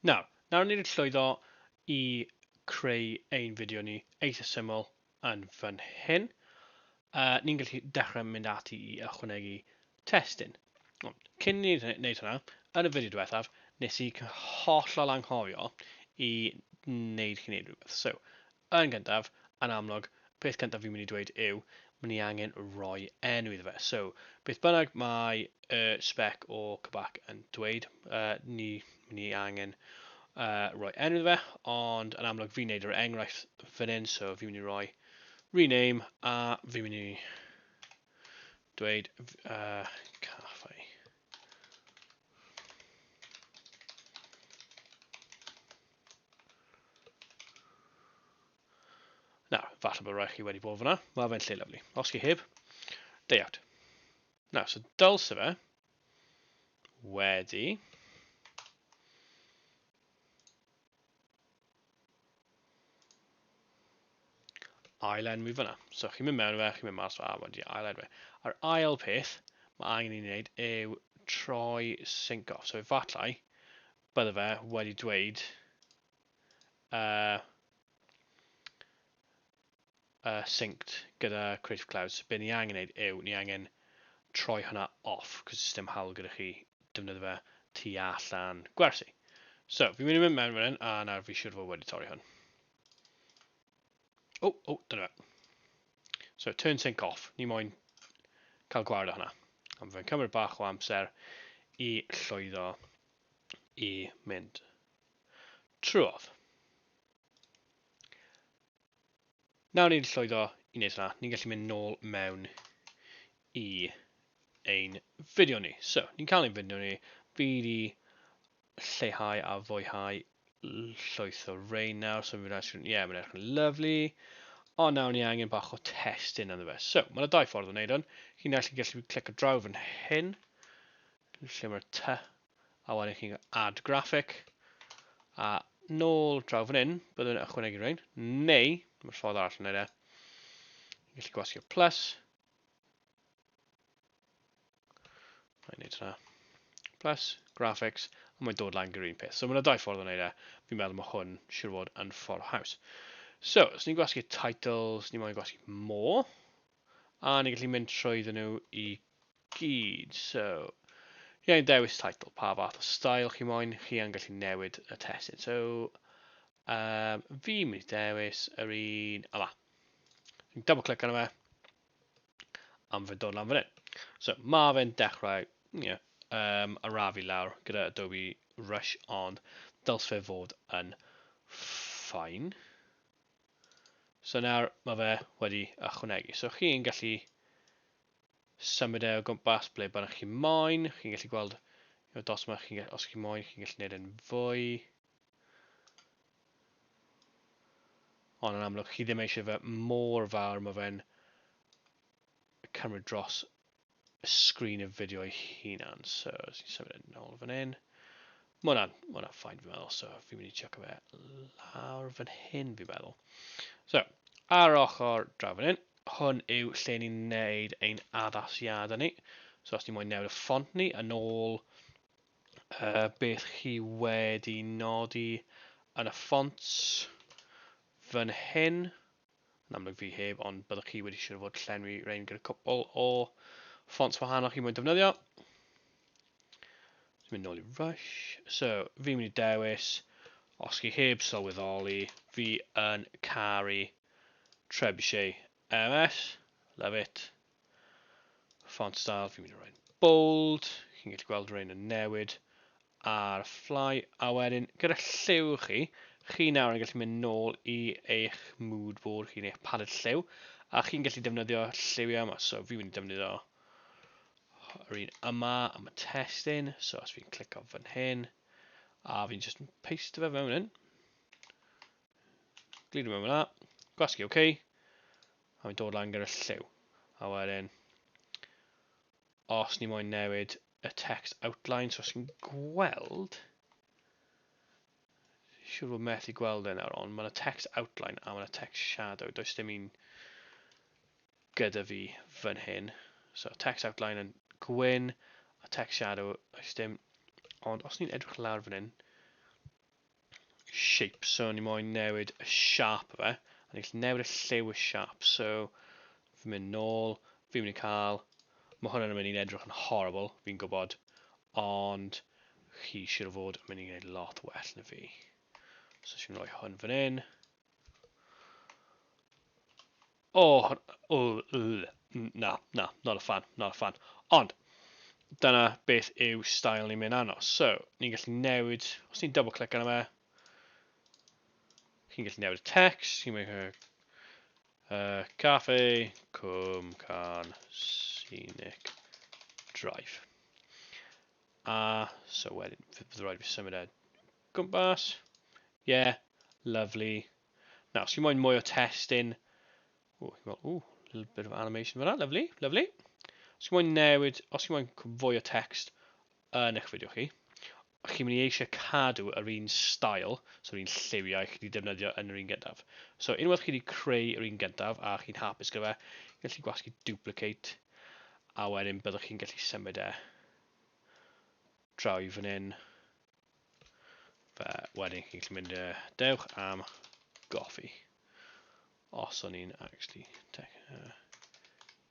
Nawr, nawr ni'n llwyddo i creu ein fideo ni eitha syml yn fan hyn. Uh, ni'n gallu dechrau mynd ati i ychwanegu testyn. Cyn ni wneud hynna, yn y fideo diwethaf, nes i hollol anghofio i wneud chi wneud rhywbeth. So, Yn gyntaf, yn amlwg, y peth cyntaf fi'n mynd i dweud yw, mae ni angen rhoi enw iddo fe. So, beth bynnag mae y spec o K'bak yn dweud, uh, ni, ni angen uh, rhoi enw iddo fe, ond yn amlwg fi'n neud yr enghraifft fan hyn, so fi'n mynd i roi rename, a fi'n mynd i dweud uh, caffi. Na, falle bod rhaid chi wedi bod fyna. Mae fe'n lle lyflu. Os chi heb, day out. Na, so dylse fe wedi... ailenwi fyna. So chi'n mynd mewn fe, chi'n mynd mas fe, a wedi ailenwi. A'r ail peth mae angen i ni wneud yw troi sync off. So efallai bydde fe wedi dweud uh, uh, synced gyda Creative Cloud. So be ni angen neud yw, ni angen troi hwnna off, cos it's dim hawl gyda chi defnyddio fe tu allan gwersi. So, fi'n mynd i mynd mewn fan hyn, a nawr fi siwr fod wedi torri hwn. O, oh, o, oh, dyna fe. So, turn sync off. Ni moyn cael gwared o hwnna. Am fe'n cymryd bach o amser i llwyddo i mynd. Trwodd. Nawr ni'n llwyddo i wneud hynna. Ni'n gallu mynd nôl mewn i ein fideo ni. So, ni'n cael ein fideo ni. Fi wedi lleihau a fwyhau llwyth o rein nawr, so fi'n rhaid sgrin, ie, mae'n edrych yn lyflu. O, nawr ni angen bach o testyn yn y fe. So, mae'n dau ffordd o wneud hwn. Chi'n actually gallu clic o draw fan hyn. lle mae'r tŷ, a wedyn chi'n cael add graphic, a nôl draw fan hyn, byddwn yn ychwanegu rhain, neu, mae'r ffordd arall yn edrych, chi'n gallu gwasgu'r plus, Mae'n neud hynna. Plus, graphics, a mae'n dod lan gyda'r un peth. So mae'n yna dau ffordd o wneud e. Fi'n meddwl mae hwn siwr fod yn ffordd haws. So, os ni'n gwasgu title, os ni'n moyn gwasgu more, A ni'n gallu mynd trwyddyn nhw i gyd. So, ie, yeah, dewis title, pa fath o style chi moyn, chi yn gallu newid y testyn. So, um, fi mynd i dewis yr un yma. Dwi'n double click arno fe. Am fe dod lan fan hyn. So, mae fe'n dechrau, ie, yeah, um, arafu lawr gyda Adobe Rush, ond dyls fe fod yn ffain. So nawr mae fe wedi ychwanegu. So chi'n gallu symud e o gwmpas ble bynnag chi moyn. Chi'n gallu gweld y dos yma, chi, os chi moyn, chi'n gallu gwneud e'n fwy. Ond yn amlwg, chi ddim eisiau fe mor fawr, mae fe'n cymryd dros sgrin y fideo ei hunan. So, os ni'n symud yn ôl fan hyn. Mae hwnna'n ma hwnna ffain fi'n meddwl, so fi'n mynd i check fe lawr fan hyn fi'n meddwl. So, ar ochr draw fan hyn, hwn yw lle ni'n neud ein addasiadau ni. So os ni moyn newid y ffont ni yn ôl uh, beth chi wedi nodi yn y ffont fan hyn. Yn amlwg fi heb, ond byddwch chi wedi siŵr fod llenwi rein gyda cwpl o fonts wahanol chi mwyn defnyddio. Dwi'n mynd nôl i Rush. So, fi'n mynd i dewis, os chi heb sylweddoli, fi yn caru Trebuchet MS. Love it. Font style, fi'n mynd i roi'n bold. Chi'n gallu gweld rein yn newid ar Fly a wedyn gyda lliw chi, chi nawr yn gallu mynd nôl i eich mood board chi, eich palette lliw, a chi'n gallu defnyddio lliwiau yma, so fi'n mynd i defnyddio yr un yma am y testyn, so os fi'n clicio fan hyn, a fi'n just paste fe mewn hyn, glidio mewn fyna, gwasgu OK, a fi'n dod lan gyda'r lliw. A wedyn, os ni moyn newid y text outline, so os chi'n gweld, siwr fod methu gweld e nawr, ond mae yna text outline a mae yna text shadow, does dim un gyda fi fan hyn. So text outline yn gwyn a text shadow, does dim, ond os ni'n edrych lawr fan hyn, shape, so ni moyn newid y siap o fe, a ni'n gallu newid y lliw y siap, so fi'n mynd nôl, fi'n mynd i cael, mae hwn yn mynd i'n edrych yn horrible, fi'n gwybod, ond chi siwr o fod yn mynd i wneud lot well na fi. So sy'n rhoi hwn fan hyn, Oh, oh, na, na, not a fan, not a fan. Ond, dyna beth yw style ni'n mynd anos. So, ni'n gallu newid, os ni'n double click arno fe, chi'n gallu newid y text, chi'n mynd uh, cafe, cwm, can, scenic, drive. A, so wedyn, bydd rhaid fi symud e Gwmpas. Ie. Lovely. Nawr, os chi moyn mwy o testyn... Ww, ti'n gweld, ww, little bit of animation fyna, lovely, lovely. Os chi moyn newid, os chi moyn fwy o text yn eich fideo chi, chi'n mynd i eisiau cadw yr un style, so'r un lliwiau chi wedi defnyddio yn yr un gyntaf. So unwaith chi wedi creu yr un gyntaf a chi'n hapus gyda fe, chi'n gallu gwasgu duplicate a wedyn byddwch chi'n gallu symud e draw i fan hyn. Fe wedyn chi'n gallu mynd y dewch am goffi. Os o'n i'n actually...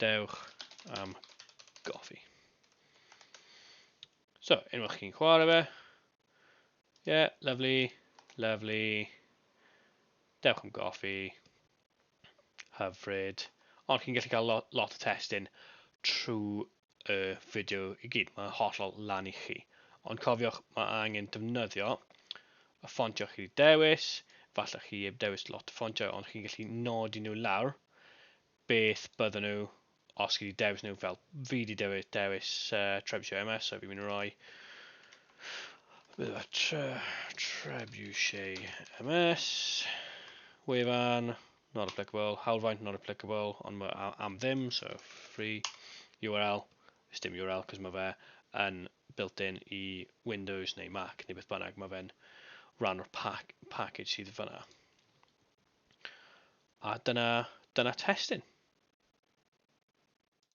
Dewch am goffi. So, unwaith chi'n chwarae fe. Yeah, lovely, lovely. Dewch am goffi. Hyfryd. Ond chi'n gallu cael lo lot o testun trwy y fideo i gyd. Mae'n hollol lan i chi. Ond cofiwch, mae angen defnyddio y ffontiau chi wedi dewis. Falle chi heb dewis lot o ffontiau, ond chi'n gallu nodi nhw lawr beth bydden nhw os chi wedi dewis nhw, fel fi wedi dewis, dewis uh, Trebuchet MS, so fi'n mynd i roi... Bydde tre, Trebuchet MS, wefan, not applicable, hawlfraint, not applicable, ond mae am, am ddim, so free URL, is dim URL, cos mae fe yn built-in i Windows neu Mac neu beth bynnag, mae fe'n rhan o'r pack, package sydd fyna. A dyna, dyna testyn.